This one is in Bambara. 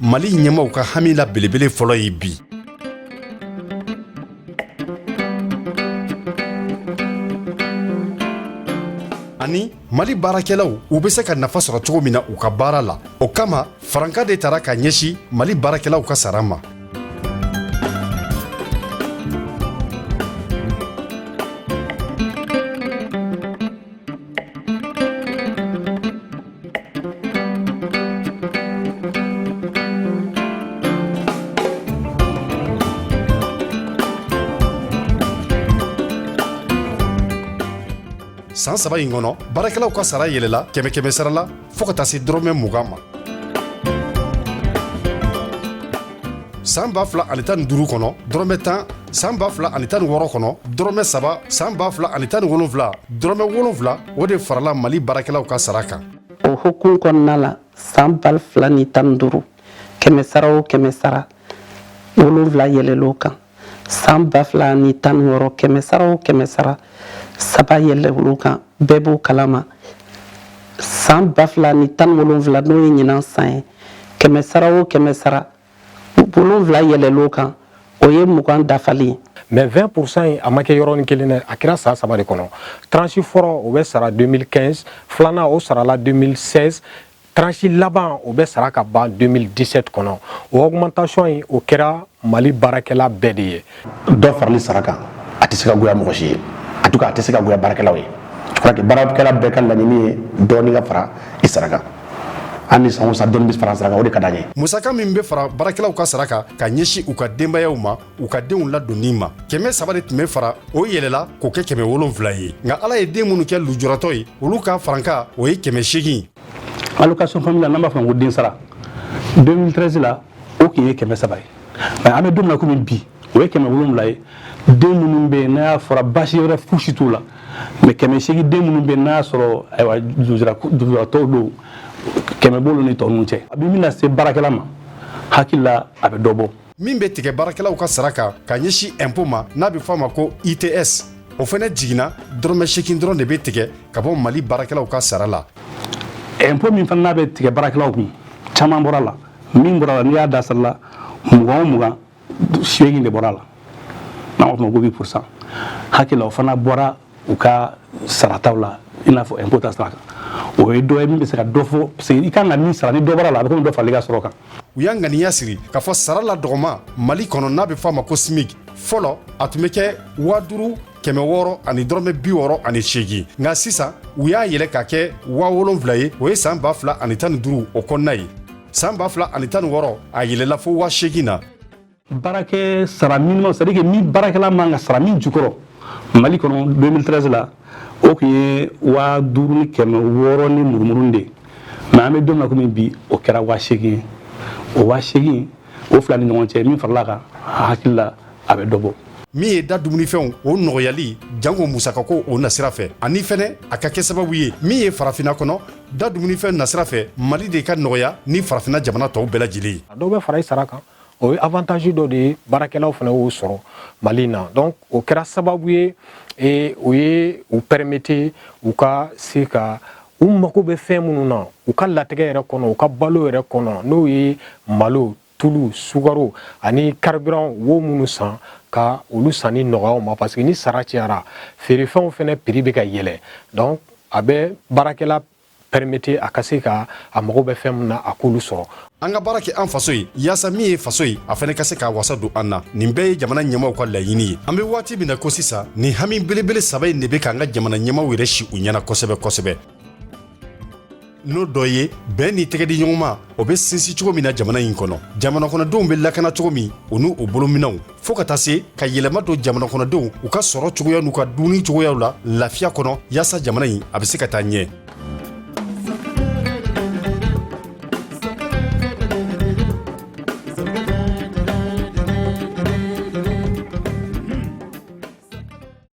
mali ɲɛmaw ka hami la belebele fɔlɔ ye bi ani mali baarakɛlaw u bɛ se ka nafa sɔrɔ cogo min na u ka baara la o kama faranka de tara ka ɲɛsi mali baarakɛlaw ka sara ma san saba in kɔnɔ baarakɛlaw ka sara yɛlɛla kɛmɛ kɛmɛ sara la fo ka taa se dɔrɔmɛ mugan ma san ba fila ani tan ni duuru kɔnɔ dɔrɔmɛ tan san ba fila ani tan ni wɔɔrɔ kɔnɔ dɔrɔmɛ saba san ba fila ani tan ni wolonwula dɔrɔmɛ wolonwula o de farala mali baarakɛlaw ka sara kan o hukumu kɔnɔna la san ba fila ni tan ni duuru kɛmɛ sara o kɛmɛ sara wolonwula yɛlɛl'o kan san ba fila ni tan ni wɔɔrɔ kɛmɛsara o kɛmɛsara saba yɛlɛl'o kan bɛɛ b'o kalama san ba fila ni tan wolonwula n'o ye ɲinan san ye kɛmɛsara o kɛmɛsara wolonwula yɛlɛl'o kan o ye mugan dafali ye mais 20 pourcent in a ma kɛ yɔrɔnin kelen dɛ a kɛra san saba de kɔnɔ tranche fɔlɔ o bɛ sara 2015 filanan o sarala 2016 tranche laban o bɛ sara ka ban 2017 kɔnɔ o augmentation in o kɛra mali baarakɛla bɛɛ de ye dɔ farali sara kan a tɛ se ka goya mɔgɔ si ye en tout cas a tɛ se ka goya baarakɛlaw ye je crois que baarakɛla bɛɛ ka laɲini ye dɔɔni ka fara i sara kan ani san o san dɔɔni bɛ fara sara kan o de ka d'an ye musaka min bɛ fara baarakɛlaw ka sara kan ka ɲɛsin u ka denbayaw ma u ka denw ladonni ma kɛmɛ saba de tun bɛ fara o yɛlɛla k'o kɛ kɛmɛ wolonfila ye nka ala ye den minnu kɛ lujuratɔ ye olu ka faranka o ye kɛmɛ seegin allocation familiale n'an b'a fɔ ko den sara 2013 la o tun ye kɛmɛ saba ye nka an bɛ don min na komi bi o ye kɛmɛ wolonwula ye den minnu bɛ yen n'a y'a sɔrɔ baasi wɛrɛ fosi t'u la mais kɛmɛ seegin den minnu bɛ yen n'a y'a sɔrɔ ayiwa lujuratɔw don kɛmɛ b'olu ni tɔ ninnu cɛ a bɛ min lase baarakɛla ma hakili la a bɛ dɔ bɔ min bɛ tigɛ baarakɛlaw ka sara kan ka ɲɛsin impôt ma n'a bɛ fɔ a ma ko its o fana jiginna dɔrɔmɛ sekin dɔrɔn de bɛ tigɛ ka bɔ mali baarakɛlaw ka sara la impôt min fana n'a bɛ tigɛ baarakɛlaw kun caman bɔr'a la min bɔr'a la n'i y'a da sara la mugan o mugan seegin de bɔr'a la n'an b'a fɔ o ma ko 8 pourcent hakili la o fana bɔra u ka sarataw la i n'a fɔ impôt ta sira kan o ye dɔ ye min bɛ se ka dɔ fɔ parce que i kan ka min sara ni dɔ bɔra a la a bɛ komi dɔ farala i ka sɔrɔ kan u y'a ŋaniya siri k'a fɔ sara la dɔgɔman mali kɔnɔ n'a bɛ fɔ a ma ko smig fɔlɔ a tun bɛ kɛ waa duuru kɛmɛ wɔɔrɔ ani dɔrɔmɛ bi wɔɔrɔ ani seegin nka sisan u y'a yɛlɛ k'a kɛ waa wolonfila ye o ye san ba fila ani tan ni duuru o kɔnɔna ye san ba fila ani tan ni wɔɔrɔ a yɛlɛla fo waa seegin na baarakɛ sara minimum c'est à dire que min baarakɛla man ka sara min jukɔrɔ mali kɔnɔ 2013 la o tun ye waa duuru ni kɛmɛ wɔɔrɔ ni murumuru de ye mais an bɛ don min na komi bi o kɛra waa seegin ye o waa seegin o fila ni ɲɔgɔn cɛ min farala a kan n hakili la a bɛ dɔ bɔ min ye da dumunifɛnw o nɔgɔyali jango musakako o nasira fɛ ani fɛnɛ a ka kɛ sababu ye min ye farafina kɔnɔ da dumunifɛn nasira fɛ mali de ka nɔgɔya ni farafina jamana tɔw bɛɛ lajɛlen ye a dɔw bɛ fara i sara kan o ye avantage dɔ de ye baarakɛlaw fana y'o sɔrɔ mali na donc o kɛra sababu ye e, o ye u permettre u ka se ka u mago bɛ fɛn minnu na u ka latigɛ yɛrɛ kɔnɔ u ka balo yɛrɛ kɔnɔ n'o ye malo tulu sukaro ani carburant wo minnu san ka olu sanni nɔgɔya u ma parce que ni sara cayara feerefɛnw fana prix bɛ ka yɛlɛ donc a bɛ baarakɛla permettre a ka se ka a mago bɛ fɛn min na a k'olu sɔrɔ an ka baara kɛ an faso ye yaasa min ye faso ye a fana ka se k'a wasa don an na nin bɛɛ ye jamana ɲɛmaw ka laɲini ye an bɛ waati min na ko sisan nin hami belebele saba in de bɛ k'an ka jamana ɲɛmaw yɛrɛ si u ɲɛna kosɛbɛ kosɛbɛ n'o dɔ ye bɛn ni tɛgɛdiɲɔgɔnma o bɛ sinsin cogo min na jamana in kɔnɔ jamanakɔnɔdenw bɛ lakana cogo min u n'u bolominɛnw fo ka taa se ka yɛlɛma don jamana kɔnɔdenw u ka sɔrɔ cogoya n'u ka dumuni cogoyaw la lafiya kɔnɔ yaasa jamana in a bɛ se ka taa ɲɛ